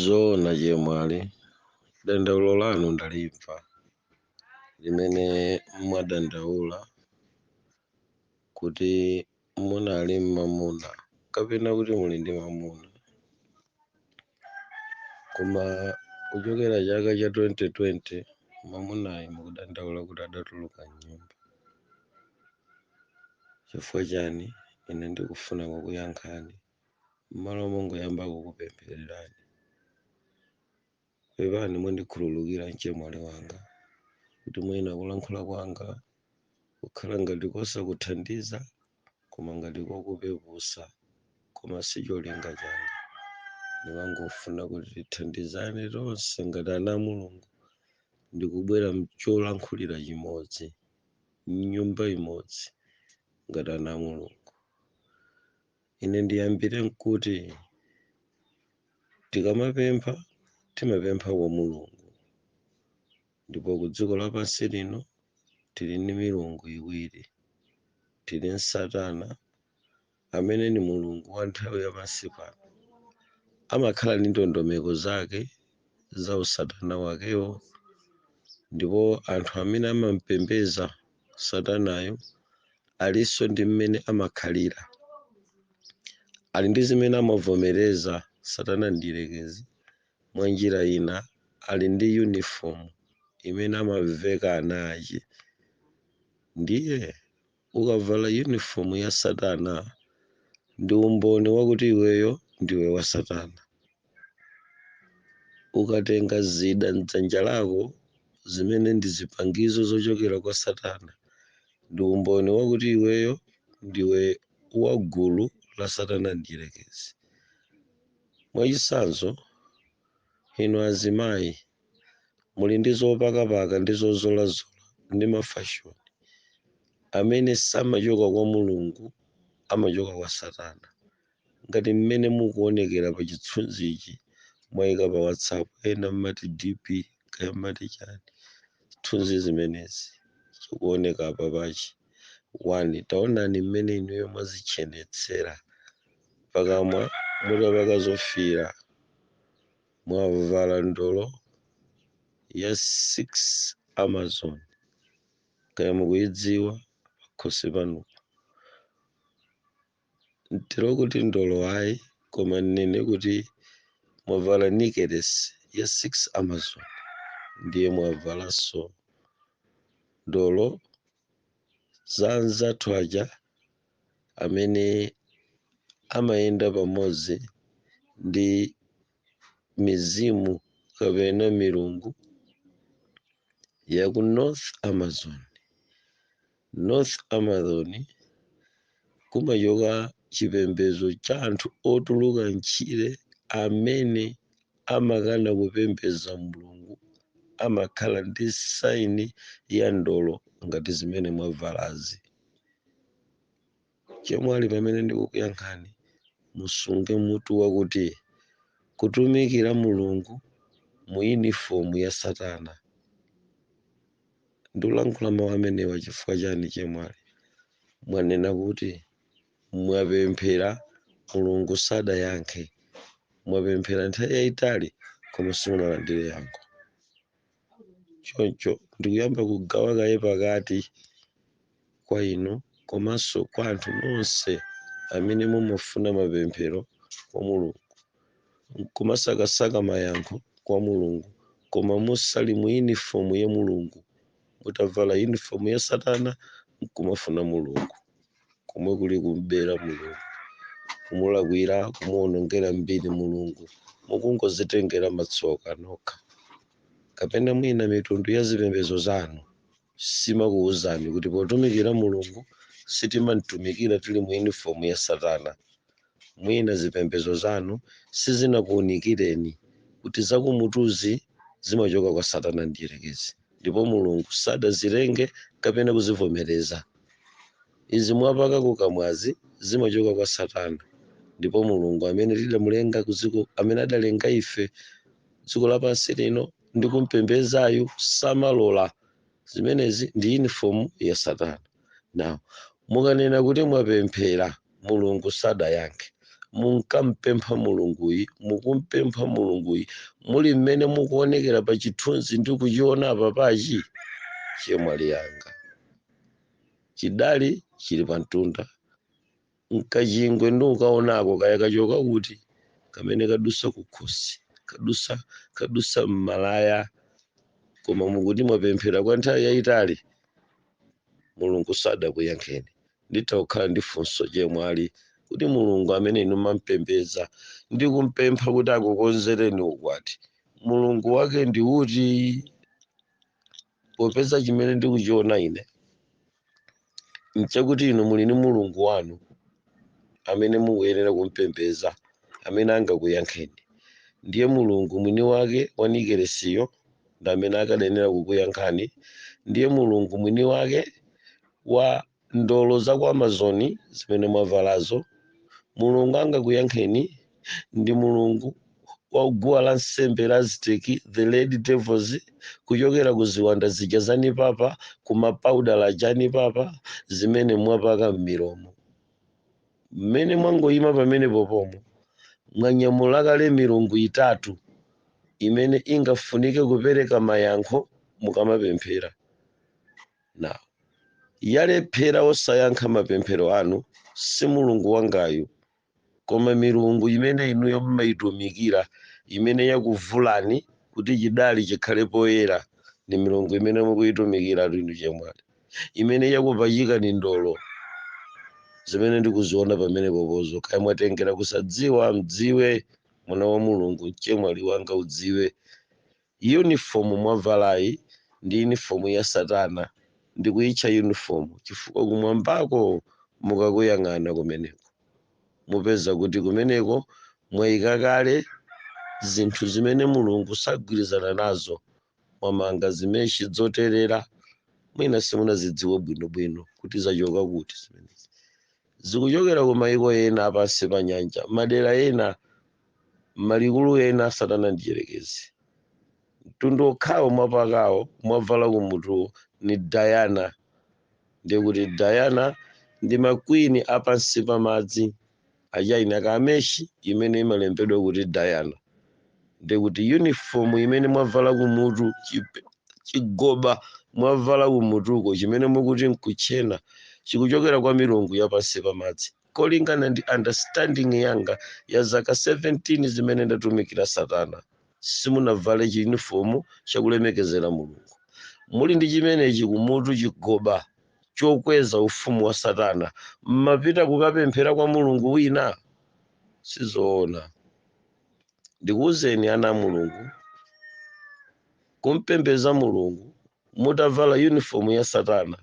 zoona chemwali dandaulo lanu ndalimva limene mwadandaula kuti munali ndi mamuna kapena kuti muli ndi mamuna koma kuchokera chaka cha 2020 mamunayi mukudandaula kuti adatuluka mnyumba chifukwa chani ine ndikufuna kukuyankhani m'malo mongoyamba kukupemphererani. Pepani mundikhululukira mchemwali wanga kuti mwina kulankhula kwanga kukhala ngati kosakuthandiza koma ngati kokupeputsa koma sicholinga changa ndimangofuna kuti tithandizane tonse ngati ana a mulungu ndikubwera ndi cholankhulira chimodzi mnyumba imodzi ngati ana a mulungu Ine ndiyambire nkuti, tikamapempha, timapempha kwa Mulungu. Ndipo ku dziko lapansi lino tili ndi milungu iwiri. Tili ndi Satana, amene ndi mulungu wa nthawi ya pansi pano. Amakhala ndi ndondomeko zake za usatana wakewo, ndipo anthu amene amampembedza Satanayo alinso ndi mmene amakhalira, ali ndi zimene amavomereza. Satana Mdyerekezi, mwa njira ina, ali ndi yunifomu imene amaveka ana ache. Ndiye ukavala yunifomu ya Satana, ndi umboni wakuti iweyo ndiwe wa Satana. Ukatenga zida m'dzanja lako, zimene ndi zipangizo zochokera kwa Satana, ndi umboni wakuti iweyo ndiwe wa gulu la Satana Mdyerekezi. Mwachitsanzo, inu azimayi muli ndi zopakapaka ndi zozolazola ndi mafashoni amene samachoka kwa Mulungu, amachoka kwa Satana. ngati mmene mukuonekera pa chithunzichi mwaika pa whatsapp ena mmati dp kaya mmati chani zithunzi zimenezi zikuoneka apa pachi one taonani mmene inuyo mwadzitchenetsera pakamwa mutapaka zofiira mwavala ndolo ya 6 amazon kaya mukuidziwa pakhosi panupo Ntero kuti ndolo ayi koma nnene kuti mwavala nikelesi ya 6 amazon ndiye mwavalanso ndolo za anzathu aja amene amayenda pamodzi ndi mizimu kapena milungu ya ku north amazon North Amazon kumachoka chipembedzo cha anthu otuluka m'tchire amene amakana kupembedza Mulungu. Amakhala ndi saini ya ndolo ngati zimene mwavalazi. chemwali pamene ndikukuyankhani musunge mutu wakuti kutumikira mulungu mu yunifomu ya satana ndikulankhula mawu amenewa chifukwa chani chemwali mwanena kuti mwapemphera mulungu sadayankhe mwapemphera nthawi yayitali koma simunalandire yankho choncho ndikuyamba kugawa kaye pakati kwa inu komanso kwa anthu nonse amene mumafuna mapemphero kwa Mulungu nkumasakasaka mayankho kwa Mulungu koma musali mu uniform ya Mulungu, mutavala uniform ya satana nkumafuna Mulungu. komwe kuli kumbera mulungu kumulakwira kumuonongera mbiri mulungu mukungodzitengera matsoka nokha kapena mwina mitundu ya zipembedzo zanu simakuwuzani kuti potumikira mulungu sitimamtumikira tili mu uniform ya satana Mwina zipembedzo zanu sizinakuunikireni kuti zakumutuzi zimachoka kwa Satana Mdyerekezi ndipo Mulungu sadazilenge kapena kuzivomereza. Izi mwapaka kukamwazi zimachoka kwa Satana ndipo Mulungu amene tidamulenga kudziko, amene adalenga ife kudziko lapansi lino ndi kumpembedzayu samalola. Zimenezi ndi yunifomu ya Satana. now mukanena kuti mwapemphera mulungu sadayankhe munkampempha mulunguyi mukumpempha mulunguyi muli mmene mukuonekera pa chithunzi ndikuchiona apa apachi chemwali wanga chidali chili pamtunda nkachingwe ndikukaonako kaya kachoka kuti kamene kadusa kukhosi kadusa kadusa mmalaya koma mukuti mwapemphera kwa nthawi yayitali mulungu sadakuyankheni nditha kukhala ndi funso chemwali kuti mulungu amene inu mampembedza ndi kumpempha kuti akukonzereni ukwati mulungu wake ndi uti popeza chimene ndikuchiona ine nchakuti inu muli ndi mulungu wanu amene mukuyenera kumpembeza amene angakuyankheni ndiye mulungu mwini wake wa nikelesiyo ndi amene akadayenera kukuyankhani ndiye mulungu mwini wake wa ndolo za ku Amazon zimene mwavalazo, Mulungu angakuyankheni ndi mulungu wa guwa la nsembe la Aztec, the Red Devils, kuchokera ku ziwanda zija za nipapa, ku mapaudala aja a nipapa, zimene mwapaka m'milomo. Mmene mwangoyima pamenepopomo, mwanyamula kale milungu itatu imene ingafunike kupereka mayankho mukamapemphera. Na. Walephera osayankha mapemphero anu si Mulungu wangayu, koma milungu imene inuyo mmaitumikira imene yakuvulani kuti chidali chikhale poyera ndi milungu imene mukuitumikiratu inu chemwali, imene yakupachikani ndolo zimene ndikuziona pamenepopozo. Kaya mwatengera kusadziwa, mdziwe, mwana wa Mulungu, mchemwali wanga udziwe. Uniform mwavalayi ndi uniform ya satana ndikuyitcha uniform chifukwa kumwambako mukakuyang'ana kumeneko mupeza kuti kumeneko mwaika kale zinthu zimene Mulungu sagwirizana nazo mwamanga zimeshi dzoterera mwina simunazidziwe bwino bwino kuti zachoka kuti zimenezi. Zikuchokera kumaiko ena apansi pa nyanja madera ena M'malikulu ena a Satana Mdyerekezi mtundu wokhawo mwapakawo, mwavala kumutuwo, ni Diana, ndiye kuti Diana ndi ma queen a pansi pa madzi a China ka mesh imene imalembedwa kuti Diana, ndiye kuti uniform imene mwavala kumutu, chigoba mwavala kumutuko chimene mukuti n'kutchena chikuchokera kwa milungu ya pansi pa madzi. kolingana ndi understanding yanga ya zaka 17 zimene ndatumikira satana simunavale chiyunifomu chakulemekezera mulungu muli ndi chimenechi kumutu chigoba chokweza ufumu wa satana mmapita kukapemphera kwa mulungu wina sizoona ndikuwuzeni ana a mulungu kumpembeza mulungu mutavala uniform ya satana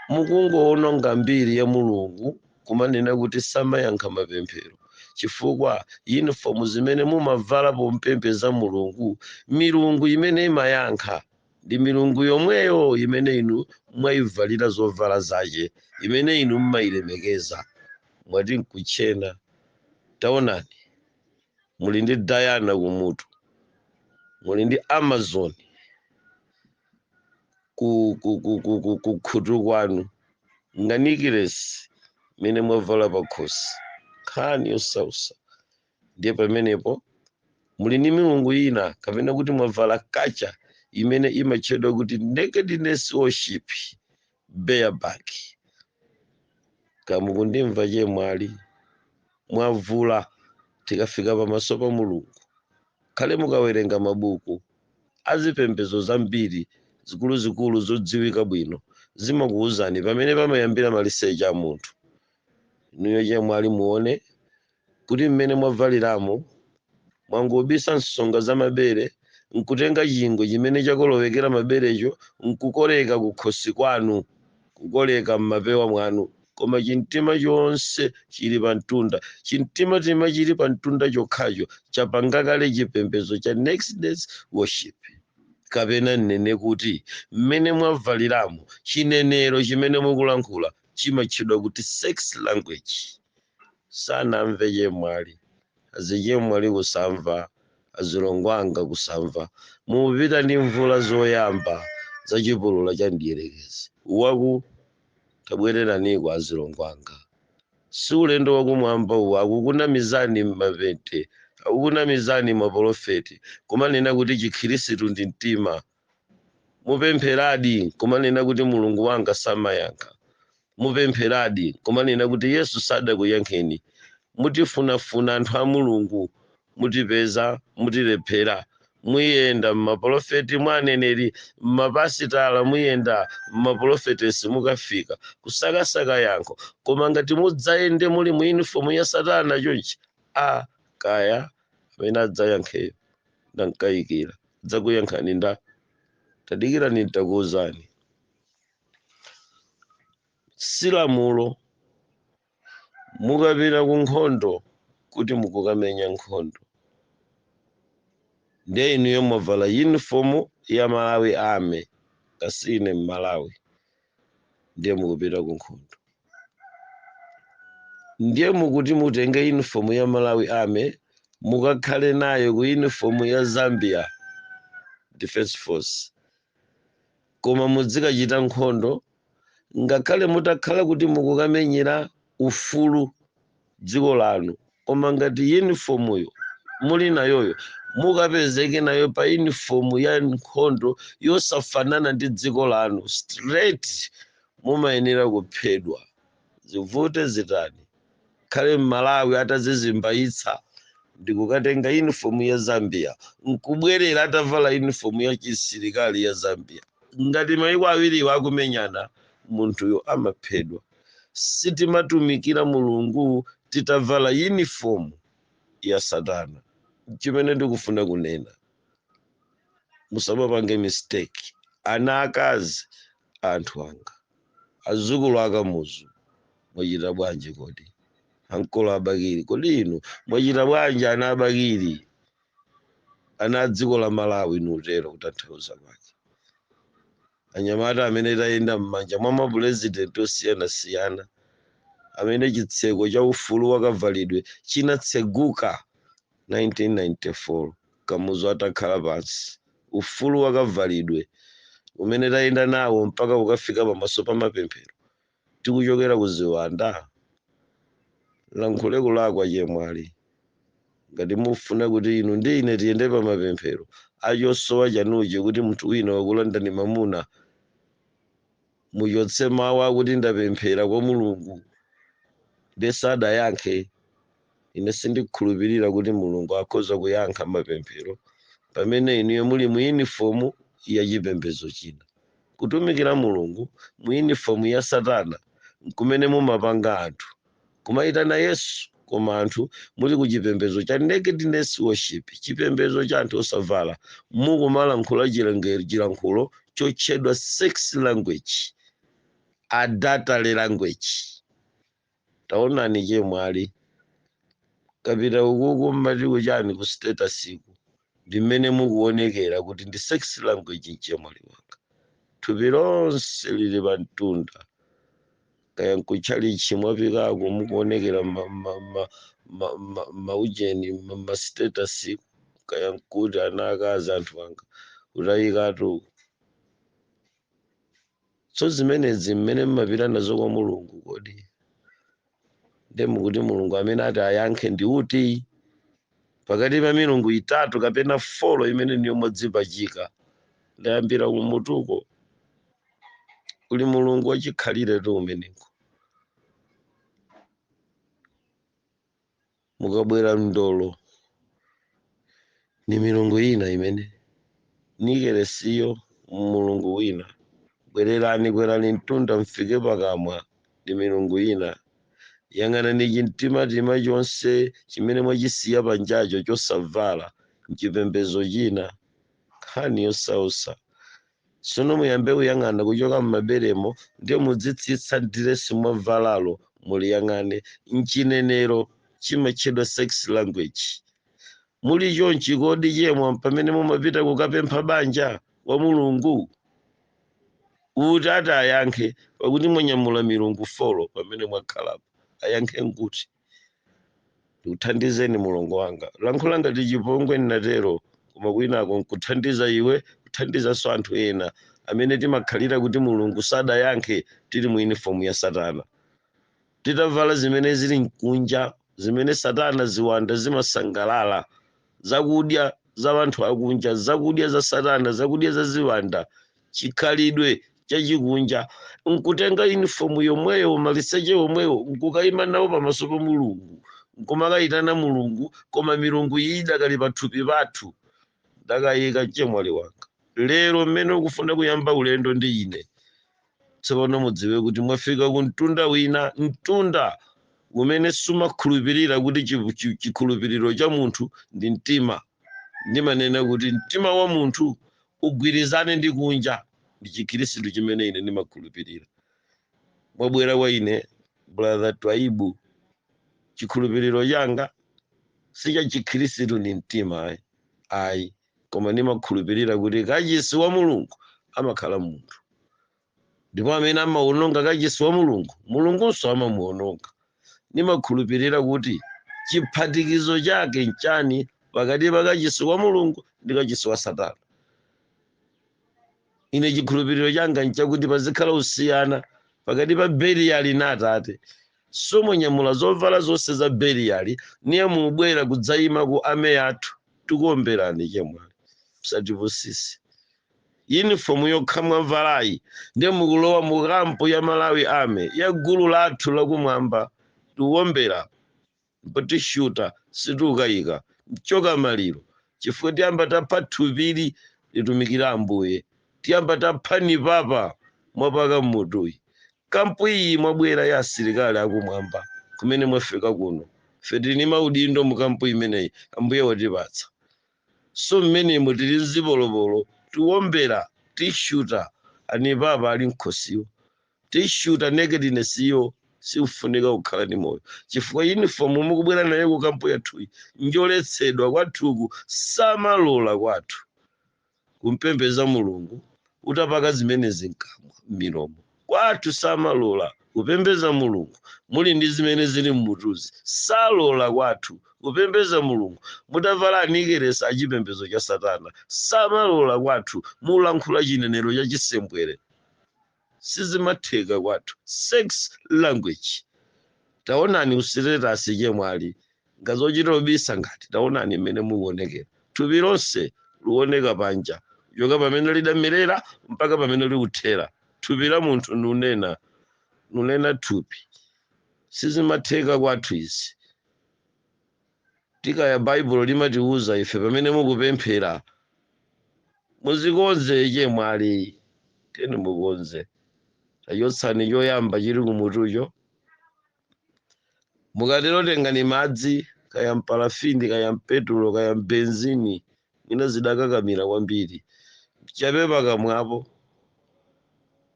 mukungoononga mbiri ya mulungu kumanena kuti samayankha mapemphero chifukwa uniform zimene mumavala pompembeza mulungu milungu imene imayankha ndi milungu yomweyo imene inu mwayivalira zovala zache imene inu mmayilemekeza mwati nkutchena taonani muli ndi diana kumutu muli ndi amazon ku- kukhutu kwanu nganikiresi imene mwavala pakhosi nkhani yosausa ndiye pamenepo muli ndi milungu ina kapena kuti mwavala kacha imene imatchedwa kuti nakedness worship bareback ka mukundimva chemwali mwavula tikafika pamaso pa mulungu khale mukawerenga mabuku a zipembedzo zambiri zikuluzikulu zodziwika bwino zimakuwuzani pamene pamayambira maliseche a munthu inuyo chemwali muone kuti mmene mwabvaliramo, mwangobisa nsonga za mabere nkutenga chingwe chimene chakolowekera maberecho nkukoleka kukhosi kwanu, kukoleka mmapewa mwanu, koma chimtima chonse chili pamtunda. Chimtimatima chili pamtunda chokhacho chapanga kale chipembedzo cha Nakedness Worship. Kapena nnene kuti mmene mwabvaliramo, chinenero chimene mukulankhula chimatchedwa kuti Sex Language. sanamve chemwali azichemwali kusamva azilongo anga kusamva mupita ndi mvula zoyamba za chipulula cha mdierekezi waku tabwereraniko azilongo anga si ulendo wakumwamba uwu akukunamizani mapente akukunamizani mapolofeti kumanena kuti chikhirisitu ndi mtima mupempheradi nkumanena kuti mulungu wanga samayankha mupempheradi nkumanena kuti yesu sadakuyankheni mutifunafuna anthu a mulungu mutipeza mutilephera muyenda mmapolofeti mwa aneneri mmapasitala muyenda mmapolofetesi mukafika kusakasaka yankho koma ngati mudzayende muli mu unifomu ya satana chonchi a kaya amene adzayankheyo Ndamkayikira. Adzakuyankhani nda. Tadikirani nitakuwuzani. Si lamulo mukapita ku nkhondo kuti mukukamenya nkhondo. Ndiye inuyo mwavala uniform ya Malawi Army, kasine Mmalawi. ndiye mukupita ku nkhondo ndiye mukuti mutenge uniform ya malawi army mukakhale nayo ku uniform ya zambia defense force koma mudzikachita nkhondo ngakhale mutakhala kuti mukukamenyera ufulu dziko lanu koma ngati yunifomuyo muli nayoyo mukapezeke nayo pa yunifomu ya nkhondo yosafanana ndi dziko lanu straight mumayenera kuphedwa zivute zitani akhale mmalawi atazizimbayitsa ndikukatenga yunifomu ya zambia nkubwerera atavala yunifomu ya chisilikali ya zambia ngati maiko awiriwo akumenyana munthuyo amaphedwa sitimatumikira mulungu titavala uniform ya satana chimene ndikufuna kunena musamapange mistake ana akazi a anthu anga azukulu akamuzu mwachita bwanji kodi ankolo a bakili kodi inu mwachita bwanji ana a bakili ana a dziko la malawi nutero kutanthauza kwake anyamata amene tayenda m'manja mwa mapulezidenti osiyanasiyana, amene chitseko cha ufulu wa kavalidwe chinatseguka 1994 Kamuzu atakhala pansi, ufulu wa kavalidwe umene tayenda nawo mpaka kukafika pamaso pa mapemphero tikuchokera ku ziwanda? Nlankhule kulakwa chemwali. Ngati mufuna kuti inu ndi ine tiyende pa mapemphero a chosowa chanuchi kuti munthu wina wakulandani mwamuna, muchotse mawu akuti ndapemphera kwa Mulungu nde sadayankhe. Ine sindikhulupirira kuti Mulungu akhoza kuyankha mapemphero pamene inuyo muli mu yunifomu ya chipembedzo china. Kutumikira Mulungu mu yunifomu ya Satana n'kumene mumapanga anthu kumayitana Yesu koma anthu muli ku chipembedzo cha nakedness worship, chipembedzo cha anthu osavala, mukumalankhula chilankhulo chotchedwa sex language, adultery language. Taonani chemwali. Kapitani ukuku mmati kuchani ku status ku? Ndi mmene mukuonekera kuti ndi sex language mchemwali wanga. Thupi lonse lili pa mtunda. Kaya nkutchalitchi mwapikako mukuonekera mma mma mma mma mma mma ujeni mma mma status ku kaya nkuti ana akazi anthu anga. Kutayikatu uku. so zimenezi mmene mmapita nazo kwa mulungu kodi nde mukuti mulungu amene ati ayankhe ndi uti pakati pa milungu itatu kapena folo imene inuyo mwadzipachika ndayambira kumutuko kuli mulungu wachikhaliretu umeneko mukabwera mndolo ni milungu ina imene nikelesiyo mulungu wina bwererani kwerani mtunda mfike pakamwa ni milungu ina yang'anani chimtimatima chonse chimene mwachisiya panjacho chosavala mchipembezo china nkhani yosausa tsono muyambe kuyang'ana kuchoka m'maberemo ndiye mudzitsitsa diresi mwavalalo muliyang'ane m'chinenero chimatchedwa sex language muli chonchi kodi chemwa pamene mumapita kukapempha banja kwa mulungu kuti ati ayankhe pakuti mwanyamula milungu folo pamene mwakhalapo ayankhe nguti ndikuthandizeni mulongo wanga lankhula ngati chipongwe ndinatero koma kwinako nkuthandiza iwe kuthandizanso anthu ena amene timakhalira kuti mulungu sadayankhe tili mu uniform ya satana titavala zimene zili mkunja zimene satana ziwanda zimasangalala zakudya za wanthu akunja zakudya za satana zakudya za ziwanda chikhalidwe chachikunja nkutenga unifomu yomweyo maliseche omwewo nkukayima nawo pamaso pa mulungu nkumakayitana mulungu koma milungu iyi idakali pathupi pathu ndakayika chemwali wanga lero mmene ukufuna kuyamba ulendo ndi ine tsopano mudziwe kuti mwafika ku mtunda wina mtunda umene sumakhulupirira kuti chi- chi- chikhulupiriro cha munthu ndi mtima ndimanena kuti mtima wa munthu ugwirizane ndi kunja ndi chikhristu chimene ine ndimakhulupirira mwabwera kwa ine brother twaibu chikhulupiriro changa si cha chikhristu ndi mtima ayi ayi koma ndimakhulupirira kuti kachisi wa mulungu amakhala munthu ndipo amene amawononga kachisi wa mulungu mulungunso amamuwononga ndimakhulupirira kuti chiphatikizo chake nchani pakati pa kachisi wa mulungu ndi kachisi wa satana ine chikhulupiriro changa nchakuti pazikhala usiyana pakati pa beliyali na atate so mwanyamula zovala zonse za beliyali niye mubwera kudzayima ku army yathu tikuomberani chemwali msatipusitse uniform yokha mwavalayi ndiye mukulowa mu kampu ya malawi army ya gulu lathu lakumwamba tikuombera ndipo tishuta sitikukayika mchoka maliro chifukwa tiyamba tapha thupili litumikire ambuye tiyamba tapha nipapa mwapaka mmutuyi kampu iyi mwabwera ya asilikali akumwamba kumene mwafika kuno ife tili ni maudindo mu kampu imeneyi ambuye watipatsa so mmenemo tili nzipolopolo tiwombera tishuta anipapa ali mkhosiwo tissue ya nakedness iyo sikufunika kukhala ndi moyo chifukwa uniform mukubwera nayo ku kampu yathuyi njoletsedwa kwathuku samalola kwathu kumpembeza mulungu utapaka zimenezi mkamwa m'milomo kwathu samalola kupembeza mulungu muli ndi zimene zili mmutuzi salola kwathu kupembeza mulungu mutavala anikelesi a achipembezo cha satana samalola kwathu mulankhula chinenero cha chisembwere sizimatheka kwathu sex language taonani usitetasi chemwe ali ngazochita kubisa ngati taonani mmene mukuonekera thupi lonse likuoneka panja kuchoka pamene lidamerera mpaka pamene likuthera thupi la munthu nunena nunena thupi sizimatheka kwathu izi tikaya baibulo limatiuza ife pamene mukupemphera muzikonze chemwali tiyeni mukonze tachotsani choyamba chili kumutucho mukatero tengani madzi kaya mpalafini kaya mpetulo kaya mbenzini mwina zidakakamira kwambiri chapa pakamwapo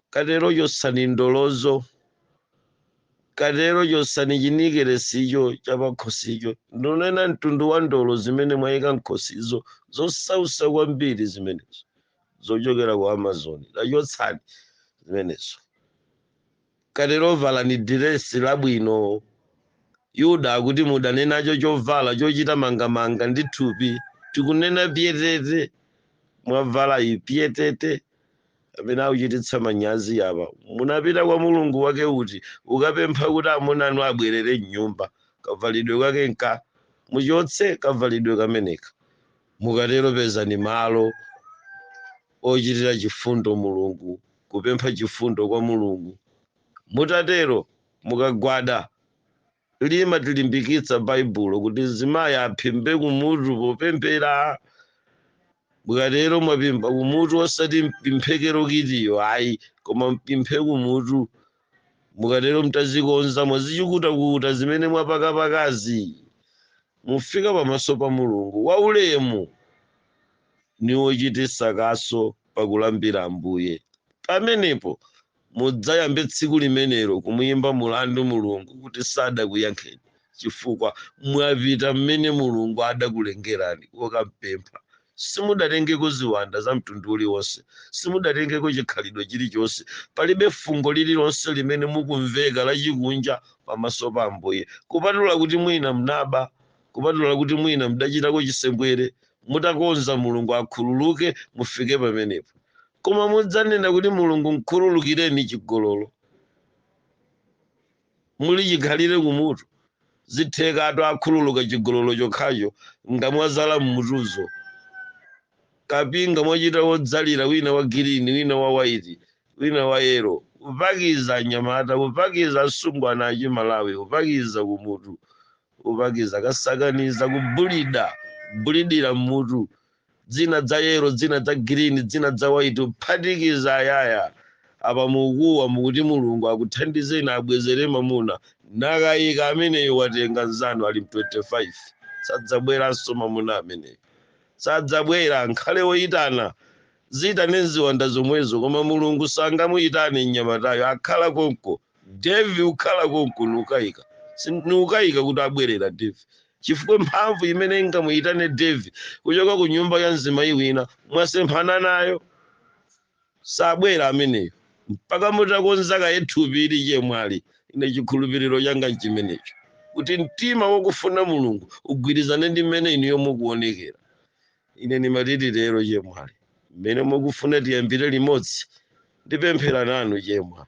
Katero chotsani ndolozo. Katero chotsani chinikelesicho chapakhosicho. Ndunena mtundu wa ndolo zimene mwayika m'khutuzo, zosautsa kwambiri zimenezo, zochokera ku Amazon. Tachotsani zimenezo. Katero valani diresi labwino. Yuda akuti mudane nacho chovala chochita mangamanga ndi thupi. Tikunena pyetete! Mwavala iyi pyetete! amene akuchititsa manyazi apa munapita kwa mulungu wake uti ukapempha kuti amuna anu abwerere mnyumba kavalidwe kake nka muchotse kavalidwe kameneka mukatero pezani malo ochitira chifundo mulungu kupempha chifundo kwa mulungu mutatero mukagwada Limatilimbikitsa Baibulo kuti mzimayi aphimbe kumutu popemphera. Mukatero mwaphimba kumutu osati mphimbidwe lokitiyo ayi, koma muphimbe kumutu. Mukatero mtazikonza mwazichikutakuta zimene mwapakapakazi, mufika pamaso pa Mulungu waulemu ni wochititsa kaso pakulambira Ambuye. Pamenepo Mudzayambe tsiku limenelo kumuimba mlandu Mulungu kuti sadakuyankheni chifukwa mwapita m'mene Mulungu adakulengerani kukampempha. Simudatengeko ziwanda za mtundu uliwonse. Simudatengeko chikhalidwe chilichonse. Palibe fungo lililonse limene mukumveka lachikunja pamaso pa Ambuye, kupatula kuti mwina mnaba, kupatula kuti mwina mdachitako chisembwere. Mutakonza, Mulungu akhululuke, mufike pamenepo. koma mudzanena kuti mulungu mkhululukireni chigololo muli chikhalire kumutu zitheka akhululuka chigololo chokhacho ngamwazala mmutuzo kapinga mwachita wodzalira wina wa girini wina wa waiti wina wa yero upakiza anyamata upakiza asungwana achimalawi upakiza kumutu upakiza kasakaniza kubulida bulidira mmutu dzina dza yero dzina dza girini dzina dza waiti uphatikiza ayaya apa mukuwa mukuti mulungu akuthandizeni abwezere mamuna nakayika ameneyo watenga nzanu ali m25 sadzabweranso mamuna ameneyo sadzabwera nkhale woyitana ziyitane nziwanda zomwezo koma mulungu sangamuyitane mnyamatayo akhala konko devi ukhala konko niukayika niukayika kuti abwerera devi chifukwa mphamvu imene ingamuyitane Dave kuchoka ku nyumba ya mzimayi wina mwasemphana nayo, sabwera ameneyo mpaka mutakonza kaye thupi ili chemwali. Ine chikhulupiriro changa nchimenecho, kuti mtima wokufuna Mulungu ugwirizane ndi mmene inuyo mukuonekera. Ine ndimati lero, chemwali, mmene mukufuna tiyambire limodzi. Ndipemphera nanu, chemwa.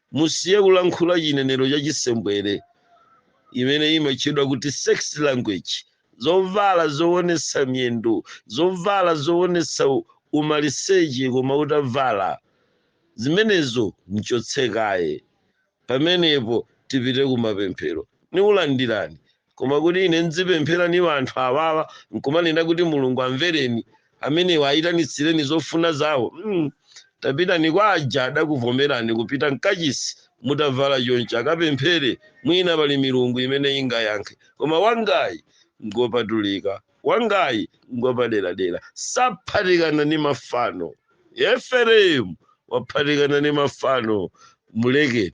musiye kulankhula chinenero cha chisembwere imene imatchedwa kuti sex language zovala zoonesa miyendo zovala zoonesa u- umaliseche koma utavala zimenezo mchotse kaye pamenepo tipite kumapemphero nikulandirani Koma kuti ine ndzipemphera ni wanthu awawa, nkumanena kuti Mulungu amvereni amenewa ayitanitsireni zofuna zawo, mm, tapitani kwa aja adakuvomerani kupita mkachisi mutavala chonchi akapemphere mwina pali milungu imene ingayankhe koma wangayi ngopatulika wangayi ngopaderadera saphatikana ni mafano Efereimu waphatikana ni mafano mulekeni.